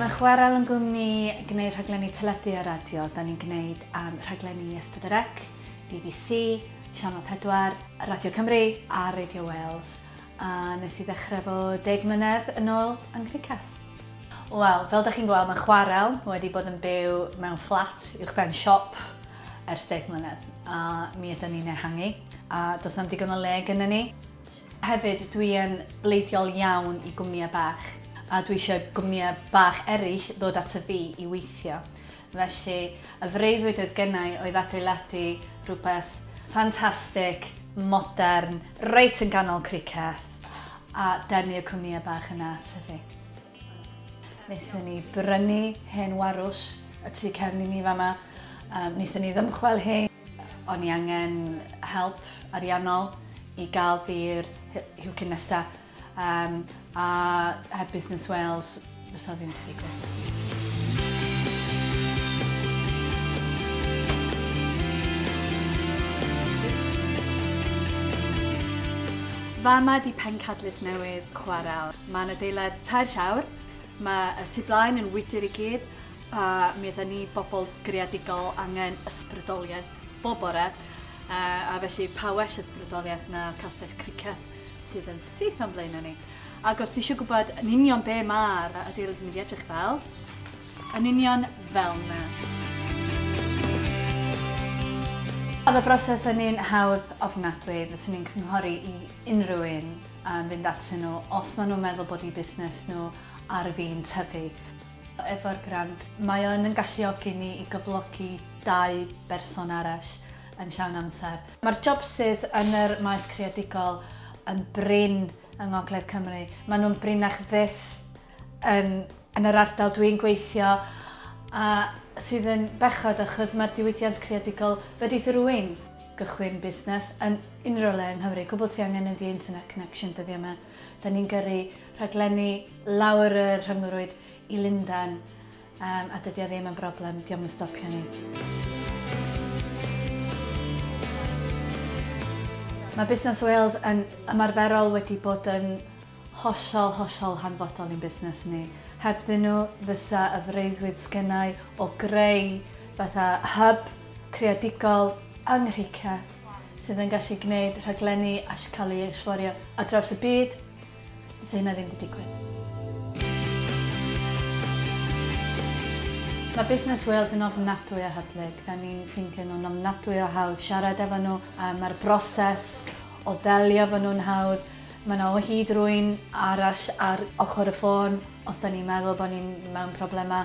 Mae chwarael yn gwmni gwneud rhaglenni teledu a radio. Da ni'n gwneud um, rhaglenni ys Pedorec, BBC, Sianel 4, Radio Cymru a Radio Wales. A nes i ddechrau fo deg mlynedd yn ôl yng Nghriceth. Wel, fel dych chi'n gweld mae chwarel wedi bod yn byw mewn fflat uwchben siop ers deg mlynedd a mi ydyn ni'n ehangu a does na'm digon o le gyda ni. Hefyd dwi yn bleidiol iawn i gwmnïau bach a dwi eisiau gwmnïau bach eraill ddod ato fi i weithio. Felly, y freuddwyd oedd gennai oedd adeiladu rhywbeth ffantastig, modern, reit yn ganol Criceth, a denu y cwmnïau bach yna ato fi. Wnaethon ni brynu hen warws y tu cefn i ni fama, wnaethon ni ddymchwel hi, o'n i angen help ariannol i gael byr i'w cyn nesaf. Um, a heb Business Wales, fysa ddim wedi digwydd. Fama di pencadlys newydd chwarae. Mae'n adeilad tair siawr, mae y tu blaen yn wydr i gyd, a mi yda ni bobl greadigol angen ysbrydoliaeth bob bore, a felly pa well ysbrydoliaeth na castell cricet. sydd yn syth o'n blaenau ni. Ac os ti eisiau gwybod yn union be mae'r adeilad yn mynd i edrych fel, yn union fel na. Oedd y broses yn un hawdd ofnadwy, fyswn i'n cynghori i unrhyw un um, fynd atyn nhw os maen nhw'n meddwl bod i busnes nhw ar fin tyfu. Efo'r grant, mae o'n yn galluogi ni i gyflogi dau berson arall yn llawn amser. Mae'r jobsus yn yr maes creadigol yn brin yng Ngogledd Cymru. Maen nhw'n brinach fyth yn yn yr ardal dwi'n gweithio a sydd yn bechod achos mae'r diwydiant creadigol wedi thrwy'n gychwyn busnes yn unrhyw le yng Nghymru. Cwbl ti angen ydi internet connection dyddiau yma. Da ni'n gyrru rhaglenni lawr y rhyngrwyd i Lundain. Yym, a dydi o ddim yn broblem, dio'm yn stopio ni. Mae Busnes Wales yn ymarferol wedi bod yn hollol, hollol hanfodol i'n busnes ni. Hebddyn nhw fysa y freuddwyd sgennai o greu fatha hub creadigol yng Nghricieth sydd yn gallu gwneud rhaglenni allcael ei ysforio ar draws y byd, Fyse hynna ddim 'di digwydd. Mae Busnes Wales yn ofnadwy o hyblyg. Da ni'n ffeindio nhw'n ofnadwy o hawdd siarad efo nhw. Mae'r broses o ddelio efo nhw'n hawdd. Mae 'na o hyd rywun arall ar ochr y ffôn os da ni'n meddwl bod ni mewn problemau.